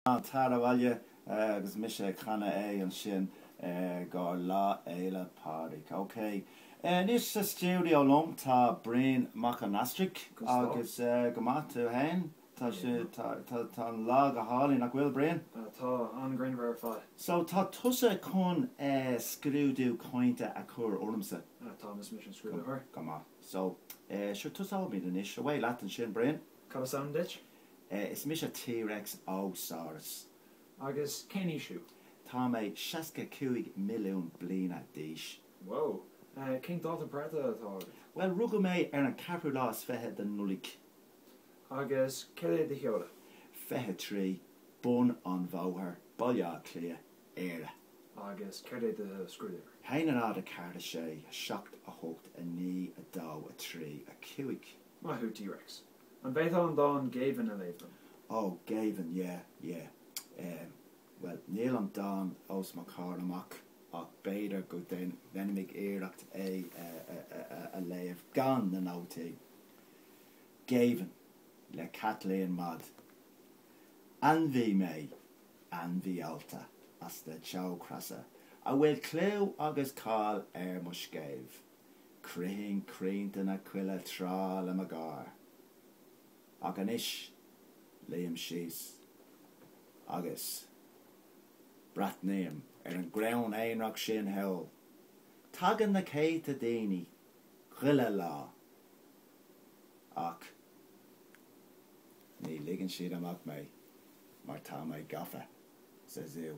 Tar abhaile agus mise ag canadh é ansin i gcomhair Lá Fhéile Pádraig, ok? Anois sa stiúideo liom tá Brian Mac an Astraigh agus go maith tú fhéin? Tá sé, tá an lá go hálainn nach bhfuil Brian? Tá, an-ghrianmhar ar fad. So tá tusa chun scrúdú cainte a chur ormsa? Táim, is mise an scrúdaitheoir. Go maith. So, sure tosóimid anois, away leat ansin Brian. Cad is ainm duit? Is mise T-Rex Ó Saurus. Agus cén aois thú? Tá mé seasca cúig milliún bliana d'aois. Whoa. Cén dáta breithe atá agat? Bhuel, rugadh mé ar an ceathrú lá is fiche den Nollaig. Agus céard é do sheoladh? Fiche trí, Bun an Bhóthair, Baile Átha Cliath, Éire. Agus céard é do scrúduimhir? haon a náid a ceathair a sé a seacht a hocht a naoi a dó a trí a cúig. Maith thú, T-Rex. An bhféadfá an dán Géibheann a léamh dom? Ó, Géibheann, yeah, yeah. Em, bhuel, níl an dán os mo chomhair amach, ach b'fhéidir go ndéanfaimid iarracht é a léamh gan na nótaí. Géibheann, le Caitlín Maude. Ainmhí mé, ainmhí allta as na teochreasa, a bhfuil clú agus cáil ar mo scéimh. Chroithinn crainnte na coille tráth le mo gháir. Ach anois, luím síos agus breathnaím ar an gcrann aonrach sin thall. Tagann na céadta daoine chuile lá, ach ní ligeann siad amach mé mar tá mé gafa sa zú.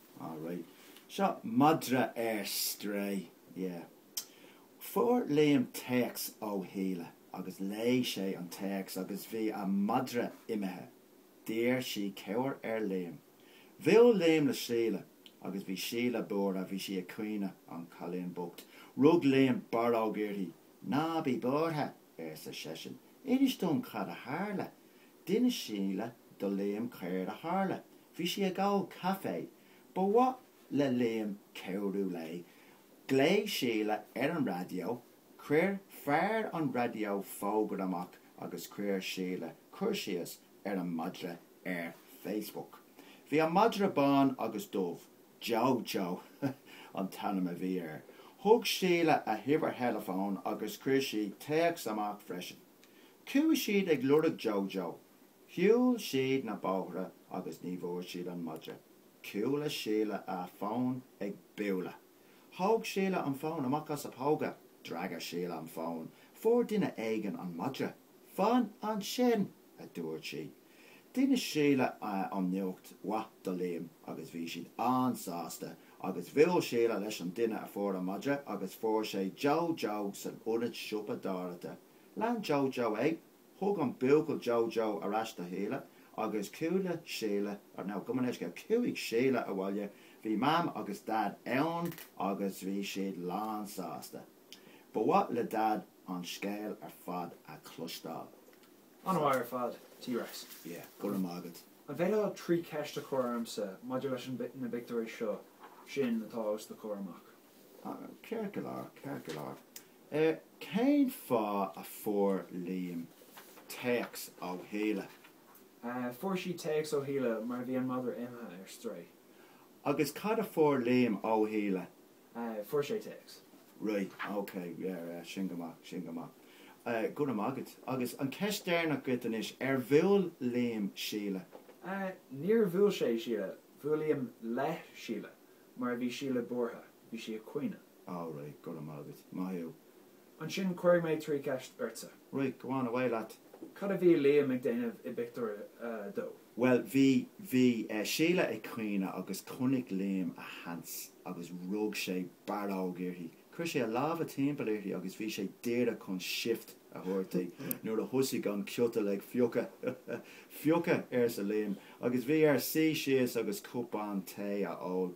All right. Seo madra ar strae. Yeah. Fuair Liam téacs ó Shíle agus léigh sé an téacs agus bhí a madra imithe. D'iarr sí cabhair ar Liam. Bhuail Liam le Síle agus bhí Síle buartha, bhí sí ag caoineadh, an cailín bocht. Rug Liam barróg uirthi, Ná bí buartha! arsa seisean. Inis dom cad a tharla. D'inis Síle do Liam céard a tharla. Bhí sí ag ól caife. Ba mhaith le Liam cabhrú léi. Ghlaoigh Síle ar an raidió. Chuir fear an raidió fógra amach agus chuir Síle cur síos ar an madra ar Facebook. Bhí an madra bán agus dubh. Joe Joe an t-ainm a bhí air. Thug Síle a huimhir theileafóin agus chuir sí téacs amach freisin. Chuaigh siad ag lorg Joe Joe. Shiúil siad na bóithre agus ní bhfuair siad an madra. Chuala Síle a fón ag bualadh. Thóg Síle an fón amach as a póca. D'fhreagair Síle an fón. Fuair duine éigin an madra. Fan ansin! a dúirt sí. D'inis Síle an nuacht mhaith do Liam agus bhí siad an-sásta agus bhuail Síle leis an duine a fuair an madra agus fuair sé Joe Joe san ionad siopadóireachta. Lean Joe Joe é, thug an buachaill Joe Joe ar ais do Shíle agus chuala Síle, or no, gabh mo leithscéal, chuaigh Síle abhaile, bhí Mam agus Dad ann agus bhí siad lán sásta. Ba mhaith le Dad an scéal ar fad a chloisteáil. An-mhaith ar fad, T-Rex. Yeah, go raibh maith agat. An féidir leat trí cheist a chur ormsa maidir leis na bpictiúirí seo atá os do chomhair amach? Ceart go leor, ceart go leor. Cén fáth a fuair Liam téacs ó Shíle? Fuair sí téacs ó Shíle mar bhí an madra imithe ar strae. Agus cad a fuair Liam ó Shíle? Eh, fuair sé téacs. Right, ok, yeah, yeah, sin go maith, sin go maith. Eh, go raibh maith agat. Agus an ceist deireanach dhuit anois, ar bhuail Liam Síle? Eh, níor bhuail sé Síle, bhuail Liam le Síle, mar bhí Síle buartha, bhí sí ag caoineadh. Alright, go raibh maith agat. Maith thú. Ansin cuirfidh mé trí cheist ortsa. Right, go on, away leat. Cad a bhí Liam ag déanamh i bpictiúr a dó? Bhuel, bhí, bhí Síle ag caoineadh agus chonaic Liam a sheans agus rug sé barróg uirthi. Chuir sé a lámha timpeall uirthi agus bhí sé díreach chun shift a thabhairt di nuair a thosaigh an ciotal ag fiuchadh. Fiuchadh! arsa Liam agus bhí air suí síos agus cupán tae a ól.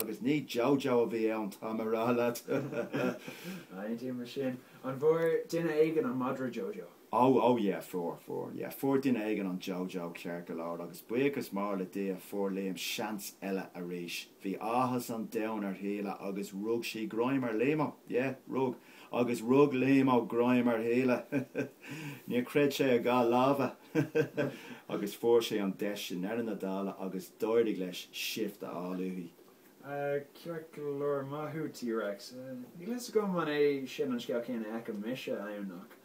Agus ní Joe Joe a bhí ann, táim a rá leat! Aontaím leis sin. An bhfuair duine éigin an madra Joe Joe? Ó, ó, yeah, fuair, fuair. Yeah, fuair duine éigin an Joe Joe ceart go leor, agus buíochas mór le Dia, fuair Liam seans eile arís. Bhí áthas an domhain ar Shíle agus rug sí greim ar Liamo. Yeah, rug. agus rug Liamo greim ar Shíle. Níor chreid sé a dhá lámha agus fuair sé an deis i ndeireadh na dála agus d'éirigh leis shift a fháil uaithi. Ceart go leor, maith thú T-Rex. Níl a fhios agam an é sin an scéal céanna a fheicim mise ann ach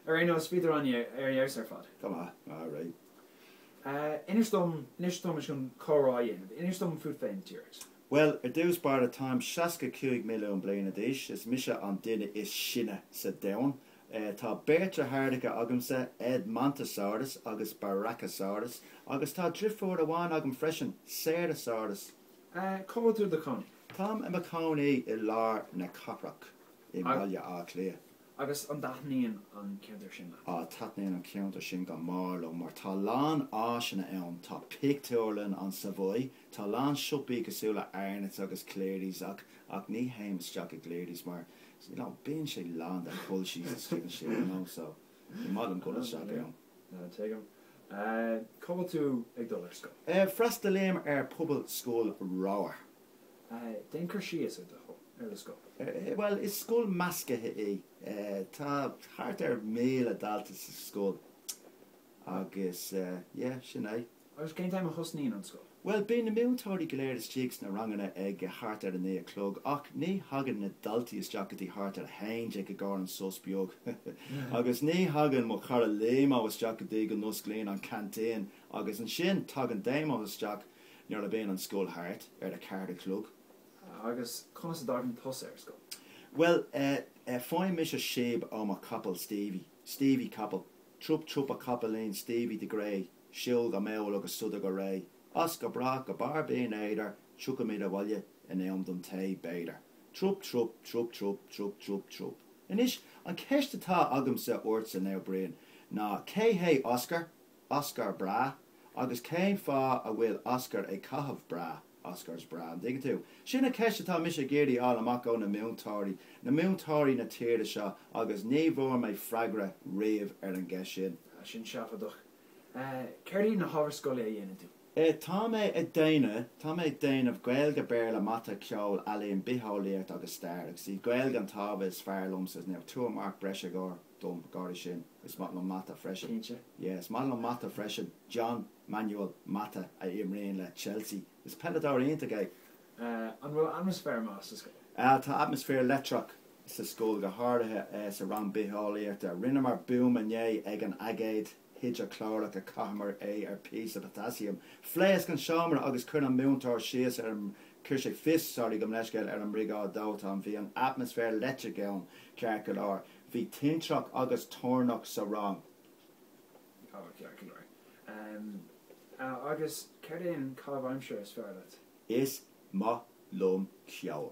ar aon nós, bhíodar ann ar fheabhas ar fad. Go maith. All right. Inis dom, inis dom, is muid chun comhrá a dhéanamh, inis dom fút féin, T-Rex. Bhuel, ar dtús báire, táim seasca cúig milliún bliana d'aois, is mise an duine is sine sa domhan. Tá beirt deartháracha agamsa, Edmontosaurus agus Brachiosaurus, agus tá drifiúr amháin agam freisin, Ceratosaurus. Cá bhfuil tú i do chónaí? Táim i mo chónaí i lár na cathrach i mBaile Átha Cliath. Agus an dtaitníonn an ceantar sin leat? Á, taitníonn an ceantar sin go mór liom, mar tá a lán áiseanna ann. Tá pictiúrlann an Savoy, Tá a lán siopaí cosúil le Arnotts agus Clearys ach ach ní théim isteach i gClearys mar you know bíonn sé lán de culchies istigh ansin you know so ní maith liom dul isteach ann. Tuigim. Cá bhfuil tú ag dul ar scoil? Freastalaím ar Pobalscoil Ramhar. Déan cur síos ar do ar do scoil. Bhuel is scoil meascaithe í. Tá thart ar 1,000 dalta sa scoil. Agus yeah, sin é. Agus cén t-am a thosnaíonn an scoil? Bhuel, bíonn na múinteoirí go léir istigh sna ranganna ag thart ar a naoi a chlog, ach ní thagann na daltaí isteach go dtí thart ar a haon déag i gcomhair an sos beag. Agus ní thagann mo chara Liamo isteach go dtí go n-osclaíonn an canteen. Agus ansin tagann Damo isteach nuair a bíonn an scoil thart ar a ceathair a chlog. Ah, agus conas a dtagann tusa ar scoil? Bhuel eh, eh, faighim mise síob ó mo chapall Stevie. Stevie Capall, Trup trup a chapaillín Stevie the Grey, siúl go mall agus sodar go réidh, as go brách go barr Binn Éadair, tiocfaimid abhaile in am don tae, b'fhéidir. Trup trup, trup trup, trup trup trup. Anois, an cheist atá agamsa, ortsa, now Brian, ná cé hé Oscar? Oscar bra? Agus cén fáth a bhfuil Oscar ag caitheamh bra? Oscars bra, an dtuigeann tú? Sin an cheist atá mise ag iarraidh a fháil amach ó na múinteoirí, na múinteoirí na tíre seo, agus ní bhfuair mé freagra riamh ar an gceist sin. Sin seafóideach. Céard iad na hábhair scoile a dhéanann tú? Tá mé ag déanamh, tá mé ag déanamh, Gaeilge, Béarla, Mata, Ceol, Ealaín, Bitheolaíocht agus Stair, agus is í Gaeilge an t-ábhar is fearr liomsa, so now, tabhair marc breise i gcomhair. dom i gcomhair sin, is maith liom mata freisin. Cinnte. Yeah, is maith liom mata freisin. John Manuel Mata, a imríonn le Chelsea. Is peileadóir iontach é. An bhfuil atmaisféar maith sa scoil? Ah, tá atmaisféar leictreach sa scoil, go háirithe sa rang bitheolaíochta. Rinneamar buama inné ag an aigéad hidreaclórach a chaitheamar é ar phíosa potaisiam. Phléasc an seomra agus chuir an múinteoir síos ar an, chuir sé fios, sorry, gabh mo leithscéal, ar an mBriogáid Dóiteáin. Bhí an atmaisféar leictreach ann, ceart go leor. Bhí tintreach agus toirneach sa rang. Oh, ceart go leor. Ah, agus céard é an caitheamh aimsire is fearr leat? Is maith liom ceol.